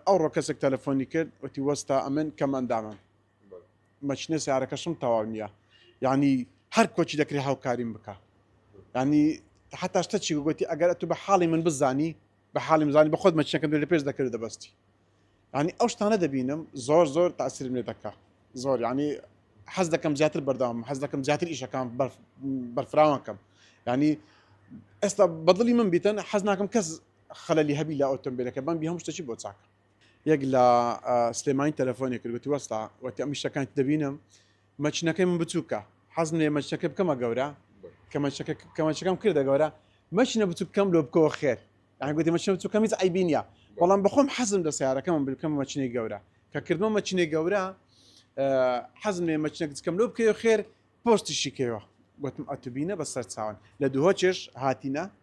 ئەوڕۆ کەسێک تەلەفۆنی کرد وتی وەستا ئەمن کەم ئەندامم مەچنە سیارەکەشم تەواو نییە یعنی هەر کۆچی دەکری هاوکاریم بکە ینی حتاشتە چی گوتی ئەگەر ئەتو بە حاڵی من بزانی بە حاڵی مزانی بە خۆت مەچنەکەم لە پێش دەکرد دەبستی ینی ئەو شتانە دەبینم زۆر زۆر تاسرم لێ دەکە زۆر ینی حەز دەکەم زیاتر بەردەوام حەز دەکەم زیاتر ئیشەکان بەرفراوانکەم ینی ئێستا بەدڵی من بیتن حەز ناکەم کەس خەلەلی هەبی لە ئۆتۆمبیلەکە بەمبی هەموو شتەچی بۆ چاکە یەک لە سلێمانی تەلەفۆنی کرد وتی وەستا وەتی ئەم شتەکان دەبینم مەچنەکەی من بچووکە حەزم لێ مەچەکە بکەمە گەورە کە مەچەکە کە مەچەکەم کردە گەورە مەچنە بچوو بکەم لۆ بکەوە خێر یان گوتی مەچنە بچوو کەمیز ئەیبی نیە بەڵام بەخۆم حەزم لە سیارەکەم بکەم مەچنەی گەورە کە کردمە مەچنەی گەورە حەزم لێ مەچنە بچکەم لۆ بکەوە خێر پۆستیشی کەوە گوتم ئەتوبینە بە سەر چاون لە دووهۆ چێش هاتینە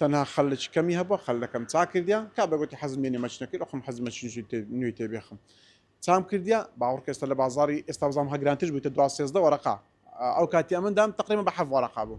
تەنها خەلکی کەمی هەبوە خەلەکەم چا کردیە کابرا گۆتی حەزم نیە نێمەچنە کیر ئەخۆم حەزمە چنشی تێ نوێی تێ بێخم چام کردیە باوەڕکە ئێستا لە بازاری ئێستا بزانم هە گرانترش بویتە دوا سێزدە وەرەقە ئەو کاتی ئەمن دام تقریبا بە حەف وەرەقە بوو